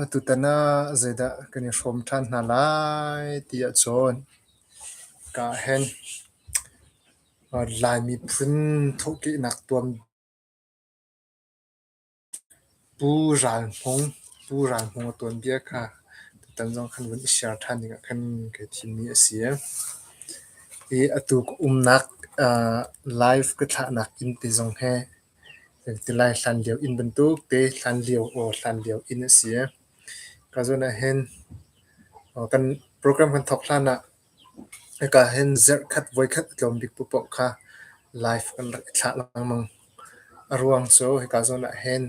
Atutan ah zeidah kan i hrawm ṭhan hna lai ti ahcun ka ahhin Lai miphun thawhkehnak tuam Pu Ral Hmung, Pu Ral Hmung a tuanbia kha tutan zong kan vun i share ṭhan dingah kan kai thimmi a si. Hi atu ka umnak aa live ka thlahnak inn te zong hi kan ti lai hlanlio inn bantuk te hlanlio aw hlanlio inn a si. Ka zawn ahhin kan program kan thawk hlanah Hika hin zarhkhat voikhat a tlawm bik paohpaoh kha live kan rak i thlah lengmang. A ruang cu hika zawn ah hin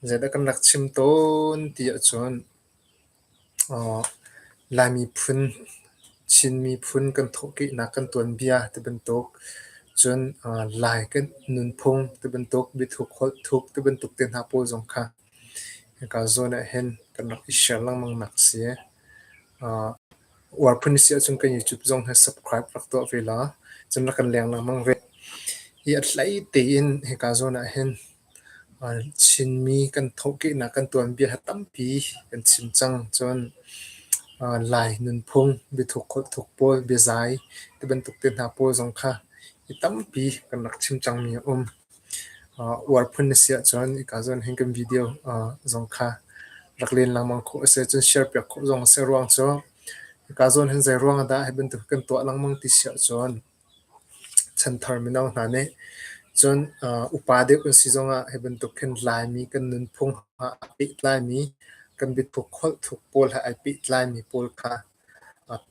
zeidah kan rak chim tawn ti ahcun uh, Laimi phun, Chin miphun kan thawhkehnak kan tuanbia ti bantuk, cun uh, Lai kan nunphung ti bantuk, biathuk holh thuk ti bantuk te hna pawl zong kha Hika zawn ah hin kan rak i share lengmang nak a si. Aa uar phun si ahcun kan YouTube zong hi subscribe rak tuah ve la. Cun rak kan leng lengmang ve. Hi a hlei tein hika zawn ah hin aa Chinmi kan thawhkehnak kan tuanbia hi tampi kan chim cang. Cun aa Lai nunphung, biathuk holhthuk pawl, biazai tibantuk te hna pawl zong kha hi tampi kan rak chim cangmi a um. uar phun na si ahcun hika zawn hin kan video zong kha rak len lengmang khawh a si ahcun share piak khawh zong a si. Ruang cu hika zawn hin zei ruang ah dah hi bantuk kan tuah lengmang ti si ahcun chanthar mino hna nih cun upa deuh kan si zong ah hi bantuk hin Laimi kan nunphung ha a pehtlaimi kan biathuk holh thuk pawl he ai pehtlaimi pawl kha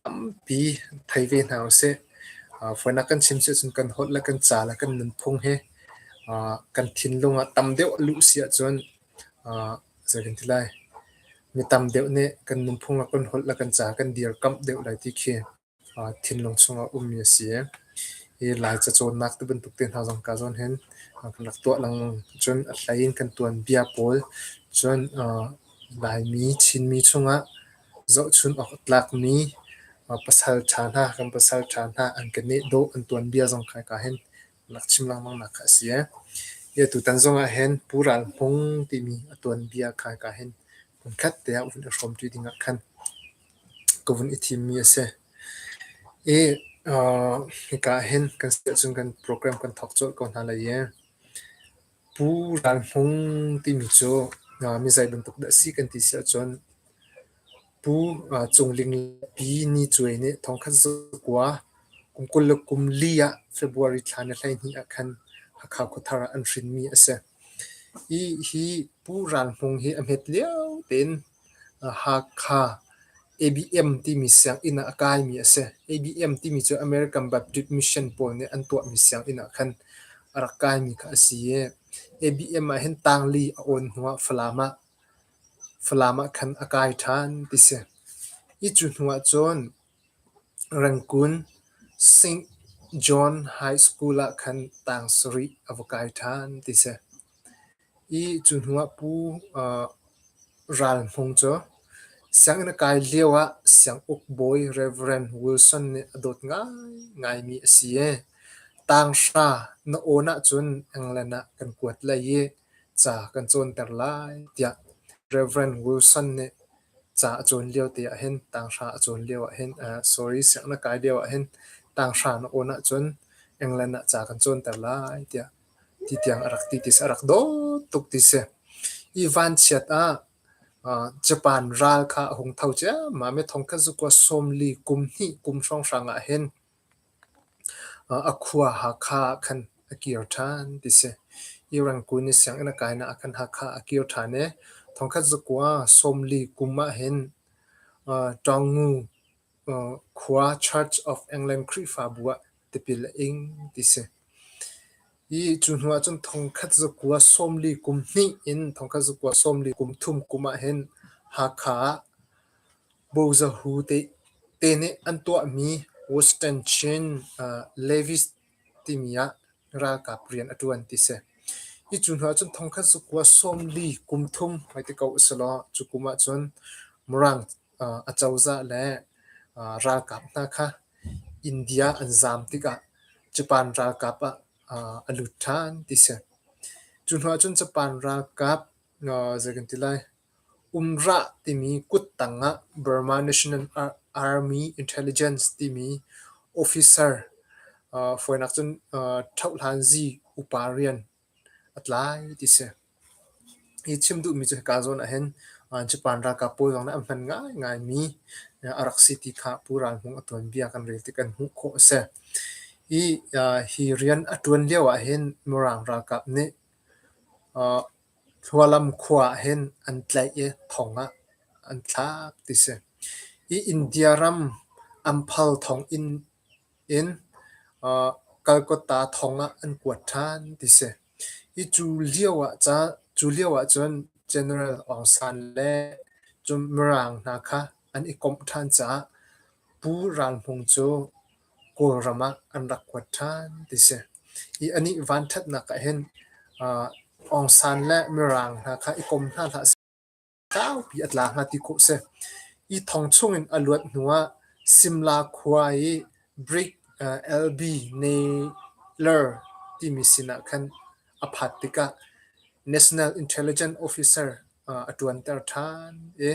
Tampi thei ve hna usih. Fawinak kan chim sihcun kan holh le kan ca le kan nunphung hi kan thinlung ah tam deuh a luh si ahcun zei kan ti lai, mi tam deuh nih kan nunphung ah kan holh le kan ca kan dirkamh deuh lai ti khi thinlung chung ah ummi a si. Hi Laica cawnnak tibantuk te hna zong ka zawn hin kan rak tuah lengmang. Cun a hlei in kan tuanbia pawl cun Laimi, Chinmi chung ah Zohchunh awk a tlakmi pasalṭha hna, kan pasalṭha hna an keneh dawh an tuanbia zong kha hika hin rak chim lengmang nak kha a si. Hi tutan zongah hin Pu Ral Hmung timi a tuanbia kha hika hin hmunkhat te ah vun i hrawmṭi dingah khan ka vun i thimmi a si. I hika hin kan siahcun kan program kan thawk colh ko hna lai i Pu Ral Hmung timi cu mizei bantuk dah a si kan ti si ahcun Pu Cung Ling le Pi Ni Cuai nih thongkhat zakua kum kul le kum li ah February thla ni hleihnih ah khan Hakha khuathar ah an hrinmi a si. Hi hi Pu Ral Hmung hi a hmet lio tein Hakha ABM timi sianginn ah a kaimi a si. ABM timi cu American Baptist Mission pawl nih an tuahmi sianginn ah khan a rak kaimi kha a si i ABM ah hin tangli a awn hnu ah Falam ah Falam ah khan a kai ṭhan ti si. Hi cu hnu ahcun Rangkun Saint John High School ah khan tang sarih a va kai ṭhan ti si. I cu hnu ah Pu uh, Ral Hmung cu sianginn a kai lio ah sianguk bawi Reverend Wilson nih a dawt ngaingaimi a si i tanghra na awn ahcun England ah kan kuat lai i ca kan cawnter lai tiah Reverend Wilson nih Ca a cawn lio te ahhin tanghra a cawn lio ahhin uh sorry sianginn a kai lio ahhin tanghra na awn ahcun England ah ca kan cawnter lai tiah ti tiang a rak ti ti a si. A rak dawt tuk ti si. Hi vanchiat ah uh Japan ral kha a hung tho ciammam i thongkhat zukua sawmli kum hnih kum hrawnghrang ahhin A khua Hakha ah khan a kir ṭhan ti si. Irangkun i sianginn a kainak ah khan Hakha a kir ṭhan i thongkhat zakua sawmli kum ahhin Ṭawngu khua Church of England Khrihfabu ah tipil a ing ti si. Cu hnu ahcun thongkhat zakua sawmli kum hnih in thongkhat zakua sawmli kum thum kum ahhin Hakha ah bozahu te, te nih an tuahmi Western Chin uh, Levis timi ah ralkap rian a ṭuan ti si. Hi cu hnu ahcun thongkhat zakua sawmli kum thum hmai ti ko a si law cu kum ahcun Mirang Acozah le ralkap hna kha India an zaam tikah Japan ralkap ah a lut ṭhan ti si. Cu hnu ahcun Japan ralkap zei kan ti lai, UMRA timi kuttang ah Burma National Army Intelligence timi officer, fawinak cun Thohlan zi upa rian a tlai ti si. Hi chim duhmi cu hika zawn ahhin Japan ralkap pawl zong nih an hman ngaingai mi a rak si ti kha Pu Ral Hmung a tuanbia kan rel tik in hmuh khawh a si. Hi hi rian a ṭuan lio ahhin Mirang ralkap nih Hlualam khua ahhin an tlaih i thong ah an thlak ti si. Hi India ram Amphal thong inn In Calcutta thong ah an kuat ṭhan ti si. Hi cu lio ah ca cu lio ahcun General Aung San le cun Mirang hna kha an i komh ṭhan caah Pu Ral Hmung cu Kawlram ah an rak kuat ṭhan ti si. Hi anih vanṭhatnak ahhin Aung San le Mirang hna kha i kom hna hlah seh. Tlangpi a tla hnga ti khawh a si. Hi thong chungin a luat hnuah Simla khua i brick LB Naylor timi sinah khan a phat tikah National Intelligence Officer a ṭuanter ṭhan i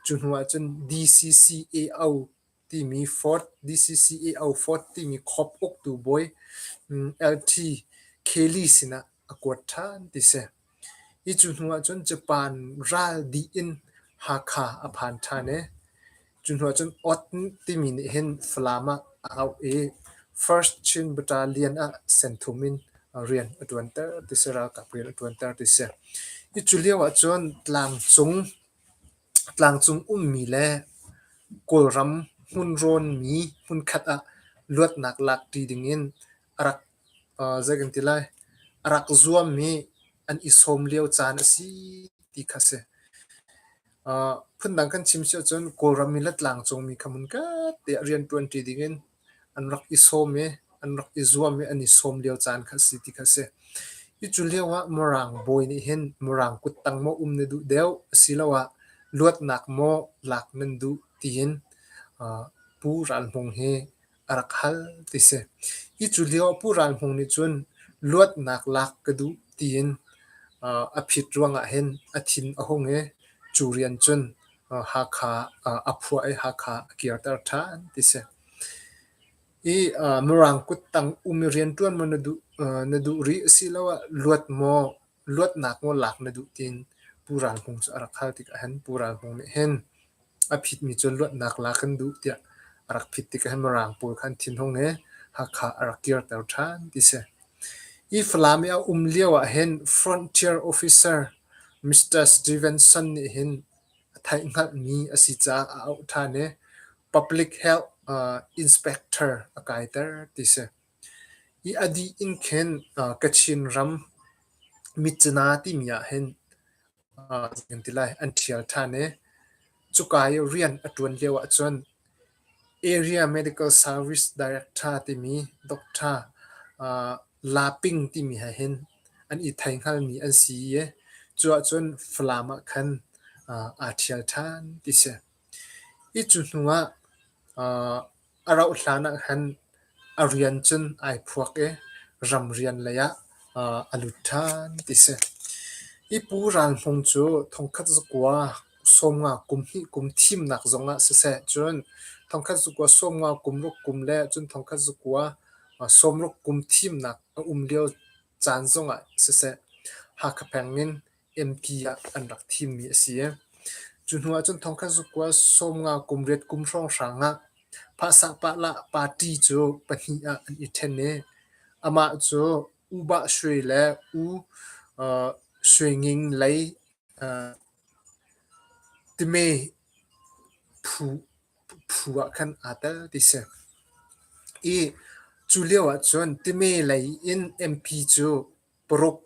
cu hnuah cun DCCAO timi Ford DCCAO Ford timi khop uktu bawi LT Kelly sinah a kuat ṭhan ti a si. Hi cu hnu ahcun Japan ral dih in Hakha a phan ṭhan i cu hnu ahcun Oath timi nih hin Falam ah a auh i First Chin Battalion ah senthum in rian a ṭuanter ti si, ralkap rian a ṭuanter ti si. Hi cu lio ahcun tlangcung, tlangcung ummi le Kawlram hmun rawnmi hmunkhat ah luatnak lakṭi ding in a rak zei kan ti lai, a rak zuam i an i sawm lio caan a si ti kha a si. phundang kan chim si ahcun Kawlram i Latlang cungmi kha hmunkhatte ah rianṭuanṭi dingin an rak i sawm i an rak i zuam i an i sawm lio caan kha a si ti kha a si. Hi cu lio ah Mirang bawi nih hin Mirang kuttang maw um na duh deuh asiloah luatnak maw lak nan duh tiin Pu Ral Hmung hi a rak hal ti si. Hi cu lioah Pu Ral Hmung nih cun luatnak lak ka duh tiin uh, a phit ruangah hin a thin a hung i cu rian cun uh, Hakha uh, a phuah i Hakha a kirter ṭhan ti si. I uh, Mirang kuttang um i rian ṭuan maw na duh, uh, na duh rih asiloah luat maw Luatnak nawl lak na duh tin Pu Ral Hmung cu a rak hal tikah hin Pu Ral Hmung nih hin a phitmi cu luatnak la kan duh tiah a rak phit tikah hin Mirang pawl kha an thinhung i Hakha a rak kirter ṭhan ti si. Hi Falam i a um lio ah hin Frontier Officer Mr. Stevenson nih hin a theihhngalhmi a si caah a auh ṭhan i public health uh, inspector a kaiter ti si. I a dih in khin Kachin ram Mitcina timi ah hin zen ti lai an ṭhial ṭhan i cuka i rian a ṭuan lio ahcun Area Medical Service Director timi doctor La Ping timi he hin an i theingalmi an si i cu ahcun Falam ah khan aa ṭhial ṭhan ti si. Hi cu hnu ah A rauh hlan ahkhan a rian cun ai phuak i ram rian lei ah a lut ṭhan ti a si. Hi Pu Ral Hmung cu thongkhat zakua sawmnga kum hnih kum thimnak zong ah siseh cun thongkhat zakua sawmnga kum ruk kum le cun thongkhat zakua sawmruk kum thimnak a um lio caan zong ah siseh Hakha peng in MP ah an rak thimmi a si. Cu hnu ahcun thongkhat zukkual sawmnga kum riat kum hrawnghrang ah Phahsak Pahlah party cu pahnih ah an i ṭhen i amah cu U Ba Shwe le U uh, Shwe Nging lei uh, time phu, phu ah khan aa tel ti si. I cu lio ahcun time lei in MP cu Paruk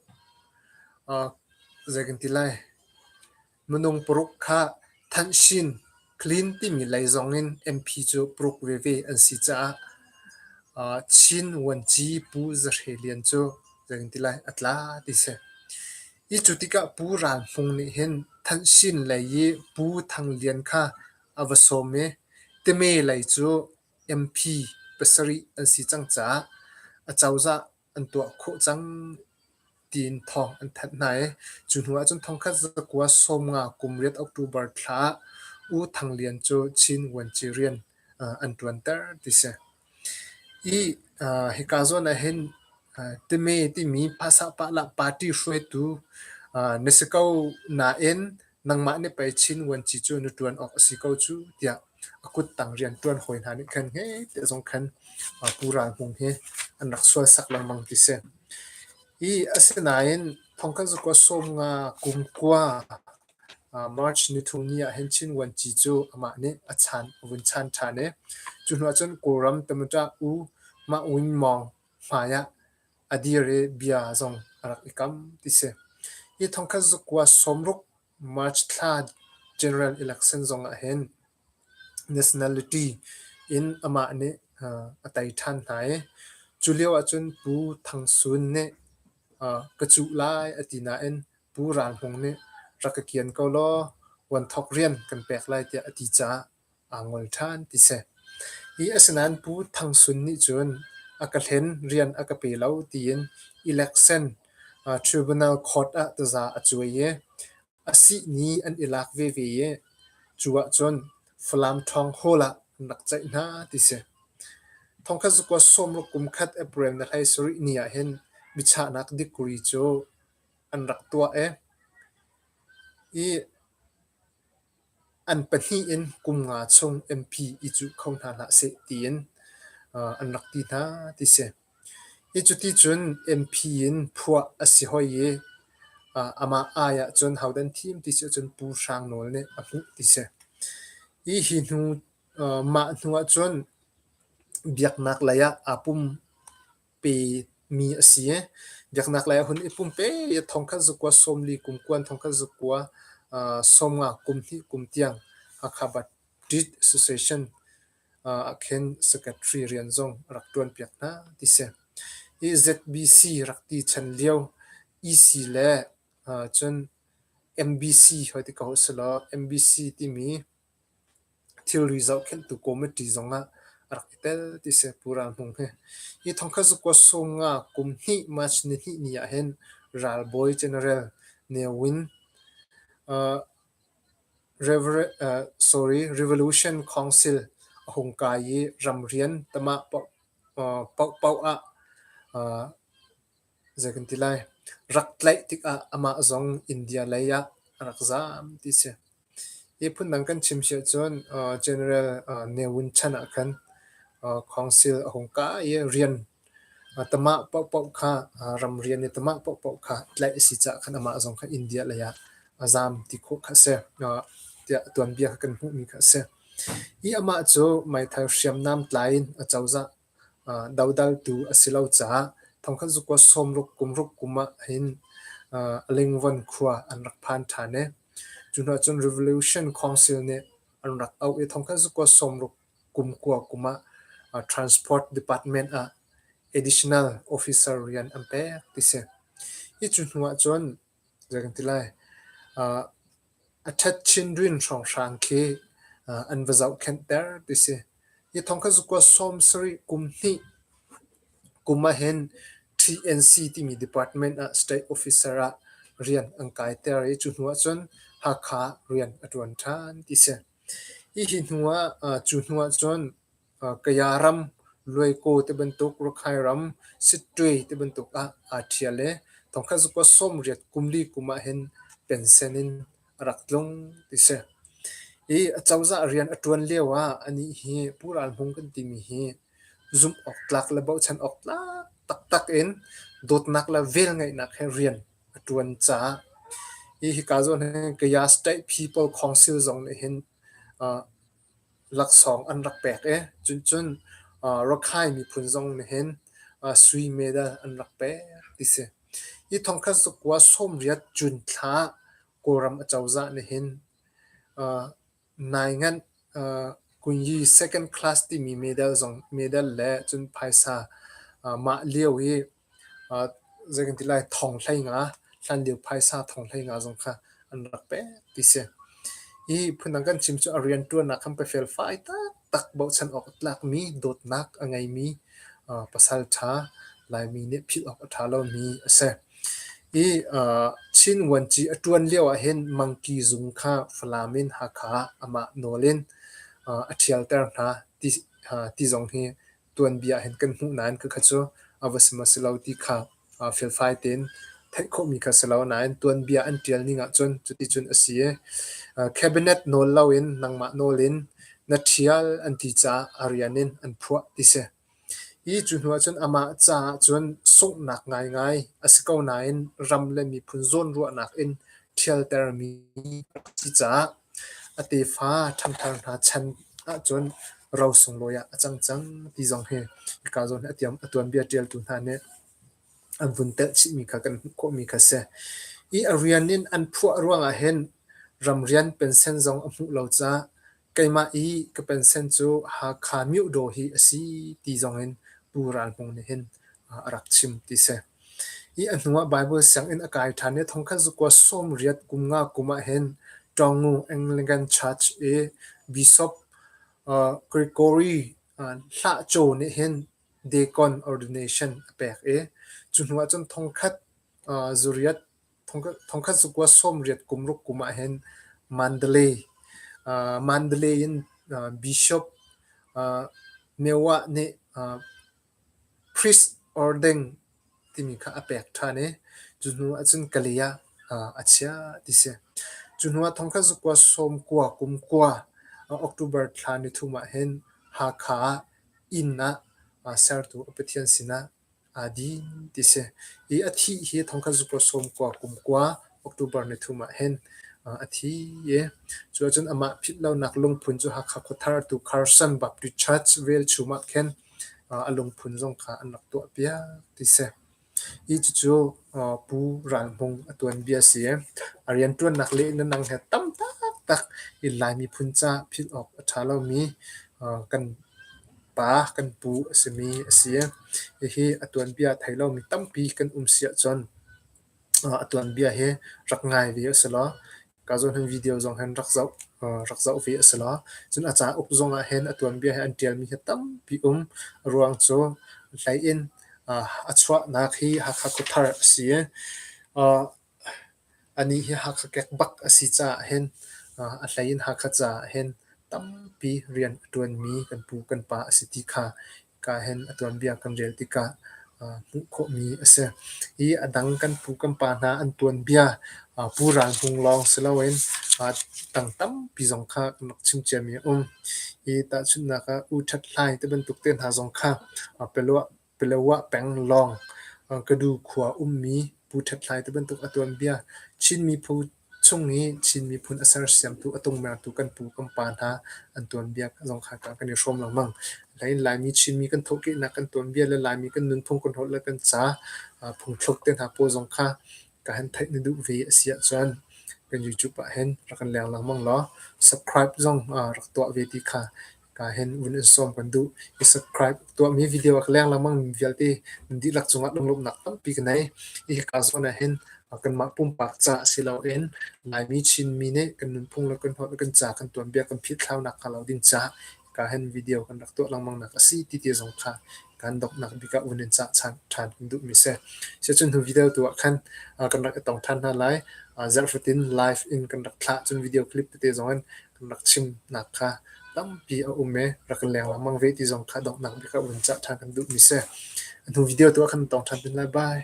zei kan ti lai minung paruk kha thanshin clean timi lei zongin MP cu paruk veve an si caah Chin Vuanci Pu Za Hre Lian cu zei kan ti lai a tla ti si. Hi cu tikah Pu Ral Hmung nih hin thanshin lei i Pu Thang Lian kha a va sawm i teme lei cu MP pasarih an si cang caah a cozah an tuah khawh cang tiin thawng an thanh hna i cu hnu ahcun thongkhat zakua sawmnga kum riat October thla ah U Thang Lian cu Chin Vuanci rian uh, an ṭuanter ti si. I uh, hika zawn ah hin uh, timi timi phasah pahlah party hruaitu uh, na si ko nain nangmah nih pei Chin vuanci cu na ṭuan awk a si ko cu tiah a kuttang rianṭuan hawi hna nih khan heh te zong khan Pu Ral Hmung hi an rak sualsak lengmang ti si. Hi asinain Thongkazukua Sawmnga kumkua March nithumni ah hin Chin vuanci cu amah nih a chan a vun chan ṭhan i cu hnu ah cun Kawlram Tamataw U Mah Win Mawng hmai ah A dir i bia zong a rak i kam, ti si. Hi thongkhat zukua sawmruk March thla general election zong ah hin nationality in amah nih a tei ṭhan hna i cu lio ahcun Pu Thang Sun nih ka cuh lai a ti nain Pu Ral Hmung nih rak ka kian ko law puan thawk rian kan pek lai tiah a ti caah aa ngol ṭhan ti si. I asinain Pu Thang Sun nih cun a ka hlen, rian a ka pe lo tiin election uh, tribunal court ah taza a cuai i a sih ni an i lak veve i cu ahcun Falam Ṭhawng Hall ah an rak ceih hna ti si. Thongkhat zakua sawmruk kum khat April na hlei sarih ni ah hin michahnak degree cu an rak tuah i i an pahnih in kum nga chung MP i cuh kho hna hlah seh tiin uh, an rak ti hna ti si. Hi cuti cun MP in phuah a si hoi i uh, amah ai ah cun haudan thim ti si cun Pu Hrang Nawl nih a hmuh ti si. Hi hi hnu uh, mah hnu ah cun biaknak lei ah aa pum. pe mi a si. Biaknak lei a hun i pumpe thongkhat zakua sawm li kum kuan thongkhat zakua uh, sawm nga kum hnih kum tiang Hakha Baptist Association uh, ah khin secretary rian zong rak tuan piak hna ti si. Hi ZBC rak ti chan lio EC le uh, cun MBC hoi ti ka ho silo MBC timi Thilri zohkhenhtu kawmiṭi zongah a rak i tel ti Sehpura hnung hi. Hi thongkhat zakua sunga kum hnih March nihnih ni ah hin ralbawi general Ne Win uh, Rever- uh, sorry, Revolution Council a hung kai i ram rian tamah paoh, uh, paoh paoh ah uh, Zei kan ti lai? Rak tlaih tikah amah zong India lei ah a rak zaam ti a si. Hi phundang kan chim si ahcun uh, General uh, Ne Win chan ah khan uh, council a hung kai i rian uh, tamah paohpaoh kha uh, ram rian i tamah paohpaoh kha tlaih a si caah khan amah zong kha India lei ah a zaam ti khawh kha a si. Uh, tiah tuanbia kha kan hmuhmi kha a si. Hi amah cu meithal hriamnam tlai in a cozah Dodaltu a si lo caah thongkhat zukua sawmruk kumruk kum ahhin lingvawn khua an rak phan ṭhan i cu hnu ahcun Revolution Council nih an rak auh i thongkhat zukua sawmruk kum kua kum ah Transport Department ah additional officer rian an pek ti si. Hi cu hnu ahcun A ṭhet chin rin hrawnghrang khi an va zohkhenhter ti si. Hi thawng kha zukua sawm sarih kum hnih kum ahhin TNC timi department ah state officer ah rian an kaiter i cu hnuah cun Hakha rian a ṭuan ṭhan ti si. Hihi hnuah cu hnuah cun Kaya ram, Luaikaw ti bantuk, Rakhine ram, Sittwe ti bantuk ah aa ṭhial i thongkhat zukua sawmriat kum li kum ahhin pensen in a rak tlung ti si. I acozah rian a ṭuan lioah anih hi Pu Ral Hmung kan timi hi zumh awk tlak le bochan awk tlak taktak in dawtnak le velngeihnak he rian a ṭuan caah hi hika zawn hin Kaya State People Council zong nih hin Laksawng an rak pek i cuncun Rakhine miphun zong nih hin sui medal an rak pek ti si. Hi thongkhat zakua sawmriat Jun thla Kawlram acozah nih hin nai nganh Kunyi second class timi medal zong medal le cun phaisa mah lio i zeikanti lai thawng hleinga, hlanlio phaisa thawng hleinga zong kha an rak pek ti si. Hi phundang kan chim cu a rianṭuannak khan pe felfai taktak bochan awk a tlakmi, dawtnak a ngeimi pasal ṭha, Laimi nih philh awk a ṭha lomi a si. Hi Chin Vuanci a ṭuan lio ahhin Mangki Zung kha Falam in Hakha ah amah nawl in a ṭhialter hna ti zong hi tuanbia hin kan hmuh nain ka kha cu a va si maw si lo ti kha felfai tein theih khawhmi kha si lo nain tuanbia an ṭial ning ahcun cuticun a si i cabinet nawl loin nangmah nawl in na ṭhial an ti caah a rian in an phuah ti si. Hi cu hnu ahcun amah caah cun sunghnak ngaingai a si ko nain ram le miphun zawnruahnak in ṭhialtermi a si caah A tefa ṭhangthar hna chan ahcun ro sunglawi ah a cang cang ti zong hi hika zawn hi a tuanbia ṭialtu hna nih an vun telh chihmi kha kan hmuh khawhmi kha a si. I a rian in an phuah ruangah hin ramrian pension zong a hmuh lo caah keimah i ka pension cu Hakha Myodaw hi a si ti zong in Pu Ral Hmung nih hin a rak chim ti si. A hnuah Baibal sianginn a kai ṭhan i thongkhat zakua sawmriat kum nga kum ah hin ṭawngu Anglican Church i Bishop Gregory Hlahco nih hin deacon ordination a pek i cu hnuah cun thongkhat zariat thongkhat zakua sawmriat kum ruk kum ah hin Mandalay Mandalay in Bishop Mewah nih Priest Ordeng timi kha a pek ṭhan i cu hnu ahcun Kalay ah a chiah ti a si. Cu hnu ah thong khat zakua sawm kua kum kua October thla nithum ahhin Hakha ah inn ah sertu a pathian sinah aa din ti a si. Hi a thih hi thong khat zakua sawm kua kum kua October nithum ahhin a thi i cu ahcun amah philhlonak lungphun cu Hakha Khuathar tu Carson Baptist Church velchum ah khin a lungphun zong kha an rak tuahpiak ti si. Hi cucu Pu Ral Hmung a tuanbia a si. A rianṭuannak le nunang he tam taktak in Lai miphun ca philh awk a ṭha lomi kan pa, kan pu a simi a si. Hihi a tuanbia a thei lomi tampi kan um si ahcun a tuanbia hi rak ngai ve u sih law, Ka zawhning video zong hin rak zoh rak zoh ve a si lo. Cun a ca uk zong ah hin a tuanbia he an ṭialmi hi tampi um. A ruang cu hlei in a chuahnak hi Hakha Khuathar a si i a ni hi Hakha kek bak a si caah hin a hlei in Hakha caah hin tampi rian a ṭuanmi kan pu kan pa a si ti kha kaa hen a tuanbia kan rel tikah uh, hmuh khawhmi a si. Hi a dang kan pu kan pa hna an tuanbia uh, Pu Ral Hmung lawng si loin uh, tang tampi zong kha kan rak chim ciami a um. Hi tahchunhnak ah U Ṭhat Hlai te bantuk te hna zong kha uh, Pelua, Pelua peng lawng uh, Kadu khua ummi Pu Ṭhat Hlai te bantuk a tuanbia Chin miphun Chung i Chin miphun a sersiamtu a tungmertu kan pu kan pa hna an tuanbia zong kha kan i hrawm lengmang. Nain Laimi Chinmi kan thawhkehnak kan tuanbia le Laimi kan nunphung kan holh le kan ca uh phungthluk te hna pawl zong kha ka han theih na duh ve a si ahcun kan YouTube ah hin rak kan leng lengmang law subscribe zong uh rak tuah ve ti kha Kaa hen uun in sawm kan duh. I subscribe tuahmi video a ka leng lengmang vialte nan dihlak cungah lunglawmhnak tampi ka nei. Hihi kaa zawn ahhin kanmah pumpak ca si loin Laimi Chinmi nih kan nunphung le kan holh le kan ca kan tuanbia kan philthlaunak hnga lo ding caah kaa hen video kan rak tuah lengmang nak a si ti ti zong kha kan donghnak bik ah uun in cah ṭhan ṭhan kan duhmi si. Sicun hu video tu ah khan kan rak i tong ṭhan hna lai. Zarh fatin live in kan rak thlah cun video clip tete zong in Rak chimnak kha tampi a um i rak leng lengmang ve ti zong kha donghnak bik ah vun cah ṭhan kan duhmi a si. A hnu video tu ah kan tong ṭhan men lai. Bye.